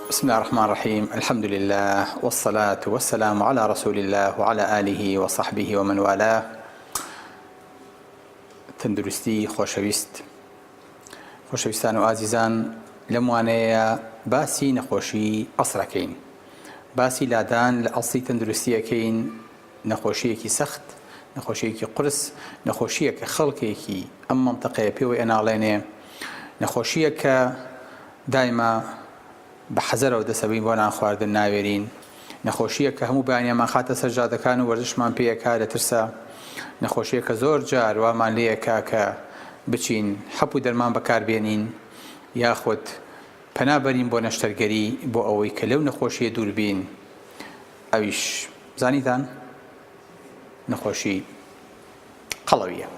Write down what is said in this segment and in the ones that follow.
بسم اللە الرحمن الرحیم الحمد للە والصلاة والسلام علی رسول اللە وعلی آله وصحبه ومن والاه تەندروستی خۆشەویست خۆشەویستان و ئازیزان لەم وانەیە باسی نەخۆشی ئەسرەکەین باسی لادان لە ئەسڵی تەندروستیەکەین نەخۆشییەکی سەخت، نەخۆشییەکی قورس، نەخۆشییەکە خەڵکێکی ئەم مەنتەقەیە پێوەی ئەناڵێنێ، نەخۆشییەکە دایمە بە حەزەرەوە دەسەبین بۆ نانخواردن ناوێرین، نەخۆشییەکە هەموو بەیانیان مانخاتە سەر جادەکان و وەرزشمان پێ ئەکا لە ترسا، نەخۆشییەکە زۆر جار وامان لێ ئەکا کە بچین حەپ و دەرمان بەکار بێنین یاخود پەنا بەرین بۆ نەشتەرگەری بۆ ئەوەی کە لەو نەخۆشییە دوور بین ئەویش زانیتان نەخۆشی قەڵەویە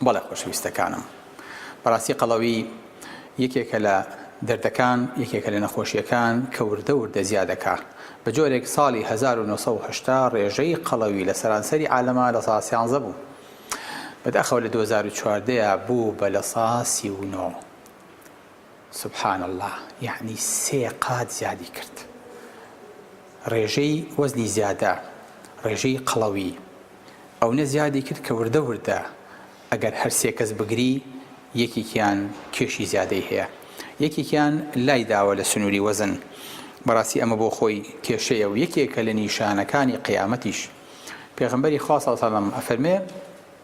بەڵێ خۆشەویستەکانم بەڕاستی قەڵەوی یەکێکە لە دەردەکان یەکێکە لە نەخۆشیەکان کە وردە وردە زیادەکە بە جۆرێک ساڵی 1970 ڕێژەی قەڵەوی لە سەرانسەری عالەما لە سا سیانزە بوو بەداخەوە لە 2014 بوو بە لە سا سی و نۆ سبحان اللە یەعنی سێ قات زیادی کرد ڕێژەی وەزنی زیادە ڕێژەی قەڵەوی ئەونە زیادی کرد کە وردە وردە ئەگەر هەر سێ کەس بگری یەکێکیان کێشی زیادەی هەیە یەکێکیان لای داوە لە سنووری وەزن بەڕاستی ئەمە بۆ خۆی کێشەیە و یەکێکە لە نیشانەکانی قیامەتیش پێغمبەری خوا سەڵسەلم ئەفەرمێ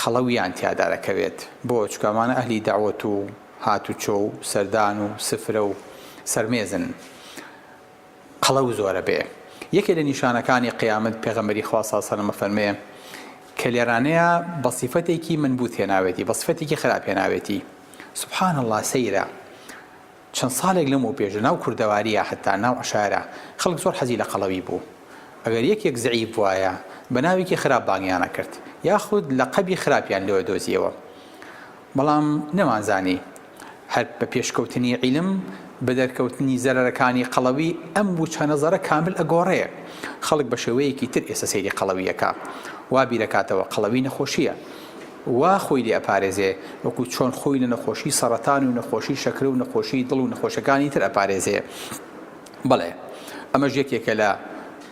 قەڵەویان تیادا دەکەوێت بۆ؟ چونکە ئەمانە ئەهلی دەعوەت و هاتوچۆ و سەردان و سفرە و سەرمێزن قەڵەو زۆرە بێ یەکێ لە نیشانەکانی قیامەت پێغەمبەری خوا صلی الله علیه و فەرمێ کە لێرانەیە بە صفەتێکی منبوت هێناوێتی بە صفەتێکی خراپ هێناوێتی سبحان اللە سەیرە چەند ساڵێک لەمەوپێش لەناو کوردەوارییە حەتتا ناو عەشایەرە خەڵک زۆر حەزی لە قەڵەوی بوو. ئەگەر یەکێک زەعیف بوایە، بە ناوێکی خراپ بانگیان ئەکرد، یاخود لەقەبی خراپیان لێ ئەدۆزییەوە. بەڵام نەمانزانی هەر بە پێشکەوتنی عیلم، بە دەرکەوتنی زەرەرەکانی قەڵەوی، ئەم وچەنەزەرە کامل ئەگۆڕێ. خەڵک بە شێوەیەکی تر ئێستە سەیری قەڵەوی ئەکا. وا بیرئەکاتەوە قەڵەوی نەخۆشییە. وا خۆی لێ ئەپارێزێ وەکو چۆن خۆی لە نەخۆشی سەڕەتان و نەخۆشی شەکرە و نەخۆشی دڵ و نەخۆشەکانی تر ئەپارێزێ بەڵێ ئەمەش یەکێکە لە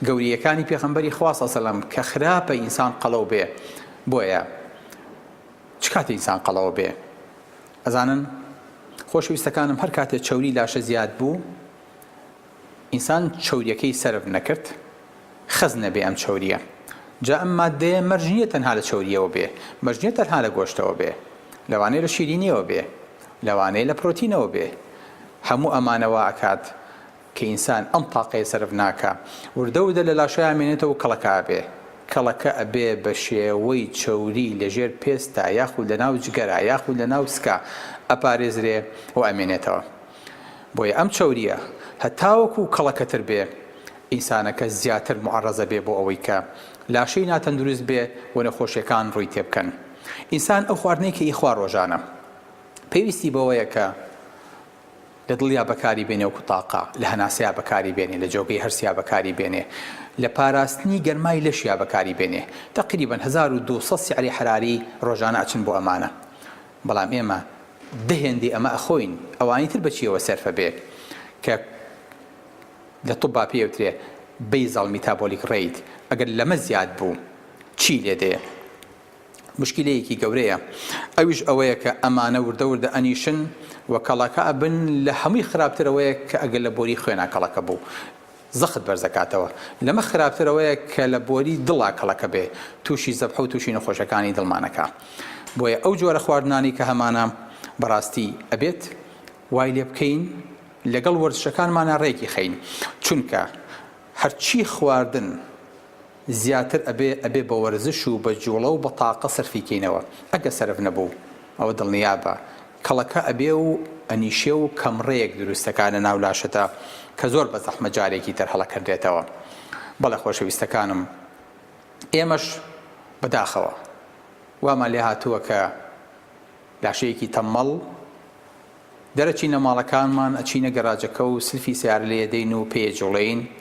گەوریەکانی پێخەمبەری خوا صلی سلم کە خراپە ئینسان قەڵەو بێ بۆیە چ کاتێ ئینسان قەڵەوە بێ ئەزانن خۆشەویستەکانم هەر کاتێ چەوری لاشە زیاد بوو ئینسان چەوریەکەی سەرف نەکرد خەز نەبێ ئەم چەوریە جا ئەم ماددەیە مەرج نیە تەنها لە چەوریەوە بێ مەرج نیە تەنها لە گۆشتەوە بێ لەوانەیە لە شیرینیەوە بێ لەوانەیە لە پرۆتینەوە بێ هەموو ئەمانە وا ئەکات کە ئینسان ئەم تاقەیە سەرف ناکا وردە وردە لە لاشەیا مێنێتەوە و کەڵەکە ئەبێ کەڵەکە ئەبێ بە شێوەی چەوری لە ژێر پێستا یاخود لە ناو جگەرا یاخود لە ناو سکا ئەپارێزرێ و ئەمێنێتەوە. بۆیە ئەم چەورییە هەتاوەکو کەڵەکەتر بێ، ئینسانەکە زیاتر موعەڕەزە بێ بۆ ئەوەی کە لاشەی ناتەندروست بێ و نەخۆشییەکان ڕووی تێ بکەن. ئینسان ئەو خواردنەی کە ئیخوا ڕۆژانە، پێویستی بەوەیە کە لە دڵیا بەکاری بێنێ وەکو تاقە، لە هەناسەیا بەکاری بێنێ، لە جۆگەی هەرسیا بەکاری بێنێ، لە پاراستنی گەرمای لەشیا بەکاری بێنێ. تەقریبەن هەزار و دوو سەد سیعری حەراری ڕۆژانە ئەچن بۆ ئەمانە. بەڵام ئێمە دە هێندەی ئەمە ئەخۆین ئەوانی تر بە چیەوە سەرفە بێ کە لە طوبا پێی ئەوترێ بەیزەڵ میتابۆلیک ڕەیت ئەگەر لەمە زیاد بوو چی لێ دێ مشکلەیەکی گەورەیە ئەویش ئەوەیە کە ئەمانە وردە وردە ئەنیشن و کەڵەکە ئەبن لە هەمووی خراپترەوەیە کە ئەگەر لە بۆری خوێنا کەڵەکە بوو زەخت بەرزەکاتەوە لەمە خراپتر ئەوەیە کە لە بۆری دڵا کەڵەکە بێ توشی زەبحە و توشی نەخۆشەکانی دڵمان ئەکا بۆیە ئەو جۆرە خواردنانەی کە هەمانە بەڕاستی ئەبێت وای لێ بکەین لەگەڵ وەرزشەکانمانا ڕێکی خەین چونکە هەرچی خواردن زیاتر ئەبێ ئەبێ بە وەرزش و بە جوڵە و بە تاقە سەرفی کەینەوە ئەگە سەرف نەبوو ئەوە دڵنیابە کەڵەکە ئەبێ و ئەنیشێ و کەمڕێیەک دروستەکا لە ناو لاشەدا کە زۆر بە زەحمەت جارێکی تر هەڵەکەنرێتەوە. بەڵێ خۆشەویستەکانم ئێمەش بە داخەوە وامان لێ هاتووە کە لاشەیەکی تەممەڵ دەرەچینە ماڵەکانمان ئەچینە گەراجەکە و سلفی سەیارە لێ ئەدەین و پێ ئەجوڵێین،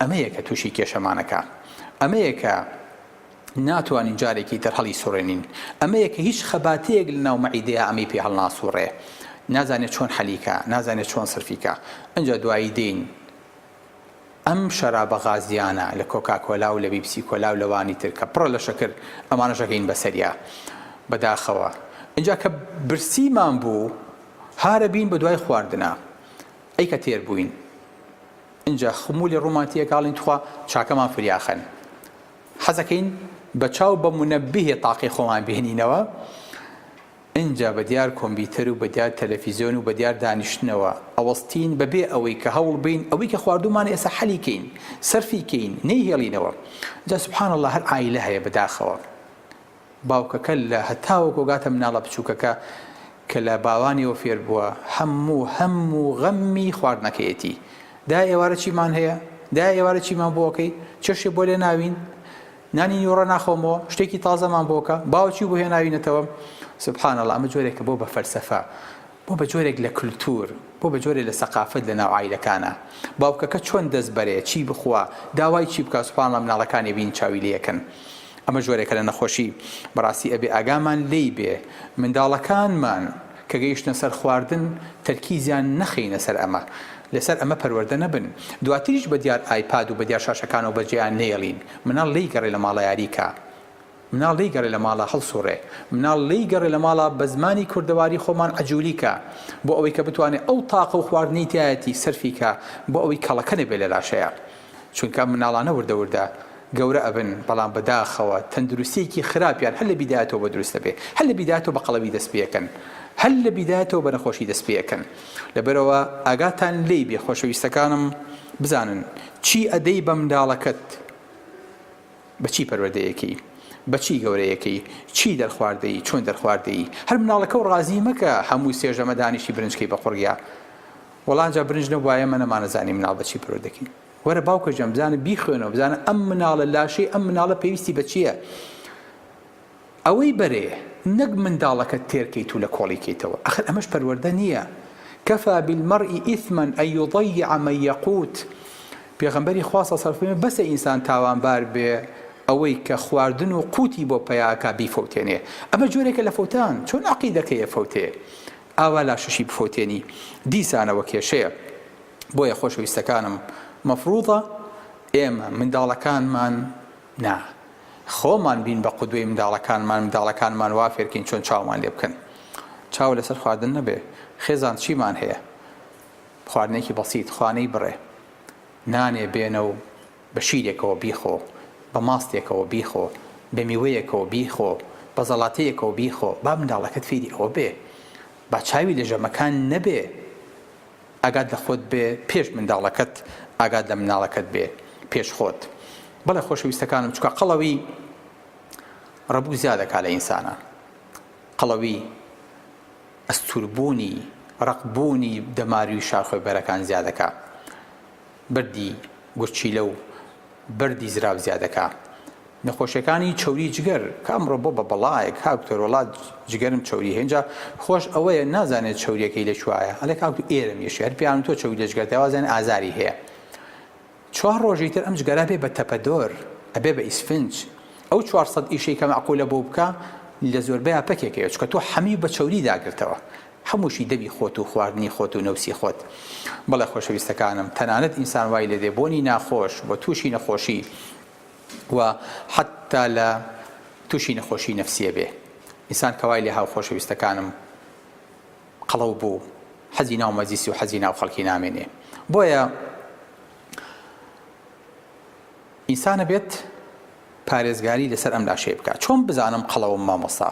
ئەمەیە کە تووشی کێشەمان ئەکا. ئەمەیە کە ناتوانین جارێکی تر هەڵیسوڕێنین. ئەمەیە کە هیچ خەباتەیەک لە ناو مەعیدەیا ئەمەی پێ هەڵناسووڕێ. نازانێ چۆن حەلی کا، نازانێ چۆن سەرفی کا. ئەنجا دوایی دێین ئەم شەرابە غازییانە لە کۆکاکۆلا و لە بیپسی کۆلا و لەوانی تر کە پڕە لە شەکر ئەمانەش ئەگەین بە سەریا. بە داخەوە. ئەنجا کە برسیمان بوو هارەبین بە دوای خواردنا. ئەی کە تێر بووین. ئینجا خمولی ڕومانتی ئەکاڵین تخوا چاکەمان فریاخەن حەزەکەین بە چاو بە مونەبیهێ تاقی خۆمان بهێنینەوە ئینجا بە دیار کۆمبیتەر و بە دیار تەلەفیزیۆن و بە دیار دانیشتنەوە ئەوەستین بە بێ ئەوەی کە هەوڵ بین ئەوەی کە خواردومان ئێسا حەلی کەین سەرفی کەین نەیهێڵینەوە جا سبحان اللە هەر عایلە هەیە بەداخەوە باوکەکە لە هەتاوەکۆ گاتە مناڵە بچووکەکە کە لە باوانیەوە فێر بووە هەموو هەم و غەممی خواردنەکەیەتی، دایە ئێوارە چیمان هەیە؟ دایە ئێوارە چیمان بۆ ئەکەی؟ چێشتێ بۆ لێ ناوین؟ نانی نیوەڕۆ ناخۆمەوە؟ شتێکی تازەمان بۆ کە؟ باوە چی بۆ هێناوینەتەوە؟ سبحان اللە ئەمە جۆرێکە بۆ بە فەلسەفە بۆ بە جۆرێک لە کلتور، بۆ بە جۆرێ لە سەقافەت لە ناو عایلەکانا. باوکەکە چۆن دەست بەرێ، چی بخوا، داوای چی بکا سوبحانەڵا مناڵەکانێ بین چاوی لێ ئەکەن. ئەمە جۆرێکە لە نەخۆشی. بەڕاستی ئەبێ ئاگامان لێی بێ. منداڵەکانمان کە گەیشتنە سەر خواردن تەرکیزیان نەخەینە سەر ئەمە. لە سەر ئەمە پەروەردە نەبن. دواتریش بە دیار ئایپاد و بە دیار شاشەکانەوە بە جێیان نەیەڵین. مناڵ لێی گەڕێ لە ماڵە یاری کا. مناڵ لێی گەڕێ لە ماڵا هەڵسوڕێ مناڵ لێی گەڕێ لە ماڵا بە زمانی کوردەواری خۆمان عەجولی کە بۆ ئەوەی کە بتوانێ ئەو تاقە و خواردنەی تیایەتی سەرفی کە بۆ ئەوەی کەڵەکە نەبێ لە لاشەیا چونکە ئەم مناڵانە وردە وردە گەورە ئەبن بەڵام بە داخەوە تەندروستیەکی خراپیان هەر لە بیدایەتەوە بە دروست ئەبێ هەر لە بیدایەتەوە بە قەڵەوی دەست پێکەن هەر لە بیدایەتەوە بە نەخۆشی دەست پێکەن لەبەرەوە ئاگاتان لێی بێ خۆشەویستەکانم بزانن چی ئەدەی بە منداڵەکەت بە چی پەروەردەیەکەی؟ بە چی گەورەیەکەی؟ چی دەرخوارد دەی؟ چۆن دەرخوارد دەی؟ هەر مناڵەکە و ڕازی مەکە هەموو سێ ژەمە دانیشی برنج کەی بە قوڕگیا. وەڵا ئەجا برنج نەبوایە ئێمە نەمانەزانی مناڵ بە چی پەروەردەکەی. وەرە باوکە جان بزانە بیخوێنەوە بزانە ئەم مناڵە لاشەی ئەم مناڵە پێویستی بە چییە؟ ئەوەی بەرێ نەک منداڵەکەت تێرکەیت و لە کۆڵی کەیتەوە ئەخر ئەمەش پەروەردە نیە کفی بالمرئی اثما ان یضیع من یقوت پێغەمبەری خوا صلی اللە علیە و سلم فەرمووی بەسە ئینسان تاوانبار بێ ئەوەی کە خواردن و قوتی بۆ پەیاکا بیفەوتێنێ ئەمە جۆرێکە لە فەوتان چۆن عەقیدەکەی ئەفەوتێ ئاوا لاشەشی بفەوتێنی دیسانەوە کێشەیە بۆیە خۆشەویستەکانم مەفروضە ئێمە منداڵەکانمان نا خۆمان بین بە قودوەی منداڵەکانمان منداڵەکانمان وا فێرکەین چۆن چاومان لێ بکەن چاو لەسەر خواردن نەبێ خێزان چیمان هەیە خواردنێکی بەسیت خوانەی بڕێ نانێ بێنە و بە شیرێکەوە بیخۆ بە ماستێکەوە بیخۆ بە میوەیەکەوە بیخۆ بە زەڵاتەیەکەوە بیخۆ با منداڵەکەت فێری ئەوە بێ با چاوی لە ژەمەکان نەبێ ئاگات لە خۆت بێ پێش منداڵەکەت ئاگات لە مناڵەکەت بێ پێش خۆت بەڵێ خۆشەویستەکانم چکە قەڵەوی ڕەبوو زیادەکا لە ئینسانە قەڵەوی ئەستوربوونی ڕقبوونی دەماروی شاخۆی بەرەکان زیادەکە بەردی گورچیلە و بەردی زراو زیادەکا نەخۆشیەکانی چەوری جگەر کە ئەمڕۆ بۆ بە بەڵایە کاک دکتۆر وەڵا جگەرم چەوری هێنجا خۆش ئەوەیە نازانێت چەوریەکەی لە کوایە ئەلێ کاک تو ئێرە میشی هەر پیان تۆ چەوری لە جگەر دەوازێن ئازاری هەیە چوار ڕۆژی تر ئەم جگەرە بێ بە تەپەدۆر ئەبێ بە ئیسفنج ئەو 400 ئیشەی کە معقولە بۆ بکە لە زۆربەی پەکێکەیە چکە تۆ حەمی بە چەوری داگرتەوە هەمووشی دەمی خۆت و خواردنی خۆت و نەوسی خۆت. بەڵێ خۆشەویستەکانم تەنانەت ئینسان وای لێدێ بۆنی ناخۆش و تووشی نەخۆشی و حەتتا لە تووشی نەخۆشی نەفسیە بێ ئینسان کەوای لێ هاو خۆشەویستەکانم قەڵەو بوو حەزی ناو مەجلیسی و حەزی ناو خەڵکی نامێنێ بۆیە ئینسانە بێت پارێزگاری لەسەر ئەم لاشەی بکات چۆن بزانم قەڵەوم مامۆستا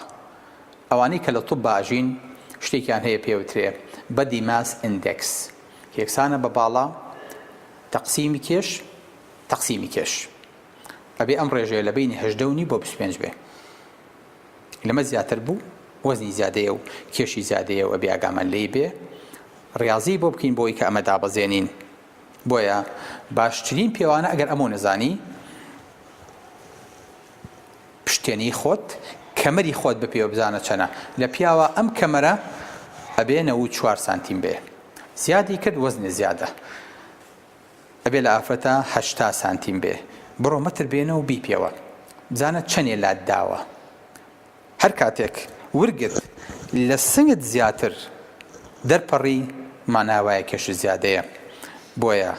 ئەوانەی کە لە طب ئاژین شتێکیان هەیە پێوترێ Body Mass Index کە یەکسانە بە باڵا تەقسیمی کێش تەقسیمی کێش ئەبێ ئەم ڕێژەیە لە بینی هەژدە و نیو بۆ بیست و پێنج بێ لەمە زیاتر بوو وەزنی زیادەیە و کێشی زیادەیە و ئەبێ ئاگامان لێی بێ ڕاضی بۆ بکەین بۆی کە ئەمە دابەزێنین بۆیە باشترین پێوانە ئەگەر ئەمە نەزانی پشتێنەی خۆت کەمەری خۆت بپێوە بزانە چەنە لە پیاوە ئەم کەمەرە ئەبێ نەوود چوار سانتیم بێ زیادی کرد وەزنێ زیادە ئەبێ لە ئافرەتە هەشتا سانتیم بێ بڕۆ مەتر بێنە و بیپێوە بزانە چەنێ لات داوە هەر کاتێک ورگت لە سنگت زیاتر دەرپەڕی مانا وایە کێشی زیادەیە بۆیە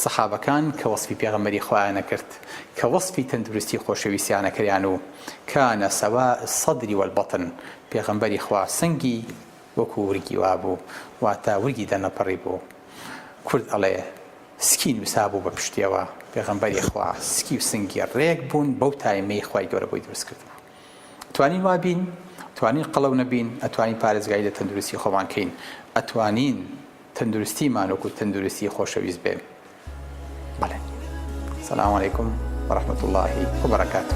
سەحابەکان کە وەسفی پێغەمبەری خوایان ئەکرد کە وەسفی تەندروستی خۆشەویستیان ئەکریان و کان سواء الصدر والبطن پێغەمبەری خوا سنگی وەکو ورگی وابوو واتە ورگی دەرنەپەڕی بوو کورد ئەڵێ سکی نووسابوو بە پشتیەوە پێغەمبەری خوا سکی و سنگی ڕێک بوون بەو تایمەی خوای گەورە بۆی دروست کردبوو توانین وا بین توانین قەڵەو نەبین ئەتوانین پارێزگاری لە تەندروستی خۆمان کەین ئەتوانین تەندروستیمان وەکو تەندروستی خۆشەویست بێ بەڵێ سلام علیکم ورحمة الله وبركاته